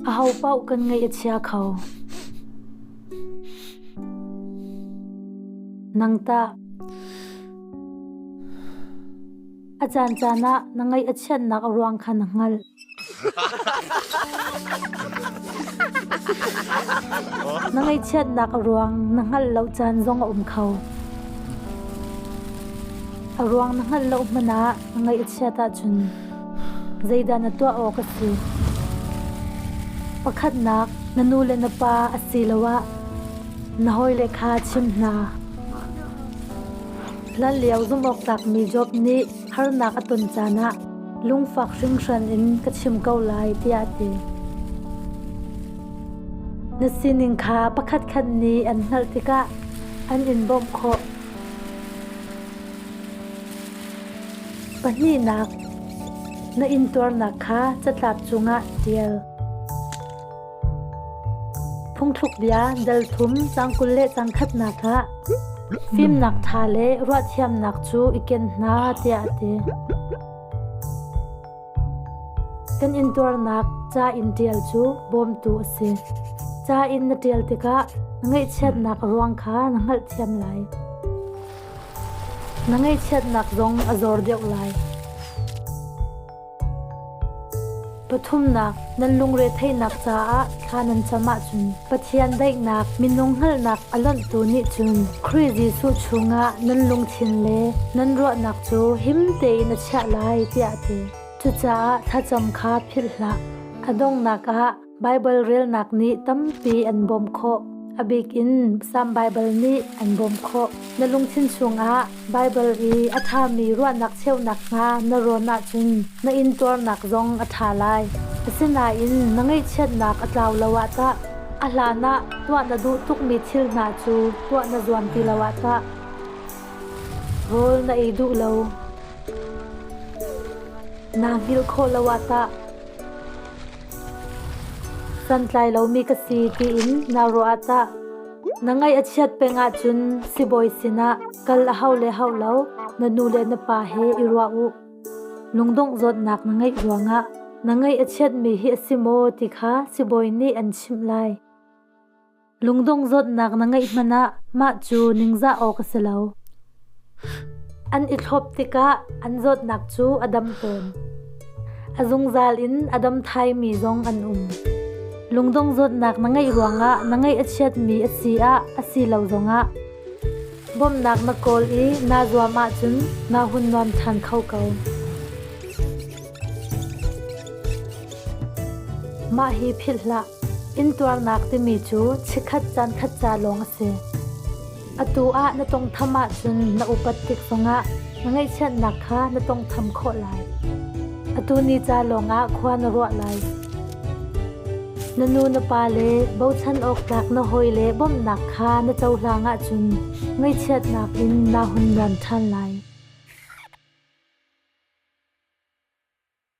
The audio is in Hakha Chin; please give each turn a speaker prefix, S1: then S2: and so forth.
S1: Ahopaoh kan ngaih a chia kho. Nang tah? A caancaan ah na ngaih a chiatnak ruang kha na hngalh. Na ngaihchiatnak ruang na hngalh lo caan zong a um kho. A ruang na hngalh lo hmanh ah na ngaih a chiat ahcun zeidah na tuah awk a si? Pakhatnak, na nu le na pa asiloah na hawile kha chim hna. Hlanlio zumhawktlakmi Job nih harnak a ton caan ah lungfak hringhran in ka chim ko lai tiah a ti. Na sining kha pakhatkhat nih an hngalh tikah an in bawmh khawh. Pahnihnak, na intuarnak kha catlap cungah ṭial. Phungthluk bia delthum cangkul le cangkhatnak ah fimnak ṭha le ruahthiamnak cu i ken hna tiah a ti. Kan intuarnak ca in ṭial cu bawmtu a si. Ca in na ṭial tikah na ngaihchiatnak ruang kha na hngalhthiam lai. Na ngaihchiatnak zong a zor deuh lai. Pathumnak, nan lungretheihnak caah thla nan cam ahcun Pathian daihnak minung hngalhnak a lonhtu nih cun Khrih Jesuh chungah nan lungthin le nan ruahnak cu him tein a chiah lai tiah a ti. Cucaah thlacam kha philh hlah. A donghnak ah Baibal relnak nih tampi an bawmh khawh. A bik in Salm Baibal nih an bawmh khawh. Na lungthin chungah Baibal i a ṭhami ruahnak cheu nakhnga na rawn ahcun na intuarnak zong a ṭha lai. Asinain na ngaihchiatnak a tlau lo ah tah? A hlanah tuah na duh tukmi thil hna cu tuah na zuam ti lo ah tah? Rawl na ei duh lo. Naa hngilh khawh lo ah tah? Santlai lomi ka si tiin naa ruah ah tah? Na ngaih a chiat peng ahcun sibawi sinah kal a hau le hau lo na nu le na pa he i ruah u. Lungdongh zawtnak na ngeih ruangah na ngaih a chiatmi hi a si maw ti kha sibawi nih an chimh lai. Lungdong zawtnak na ngeih hmanh ah mah cu ningzah awk a si lo. An i thlop tikah an zawtnak cu a dam fawn. A zungzal in a dam thaimi zong an um. Lungdong zawtnak na ngeih ruangah na ngeih a chiatmi a si ah a si lo zongah bawmhnak na kawl i naa zuam ahcun naa hun nuam ṭhan kho ko. Mah hi philh hlah. Intuarnak timi cu chikkhat caankhat ca lawng a si. Atu ah na tawngtham ahcun na upat tik zongah na ngaihchiatnak kha na tawngtham khawh lai. Atu ni ca lawngah khua na ruah lai. Na nu na pa le bochan awk tlak na hawi le bawmhnak kha na cohlang ahcun Ngaihchiatnak in naa hun liam ṭhan lai.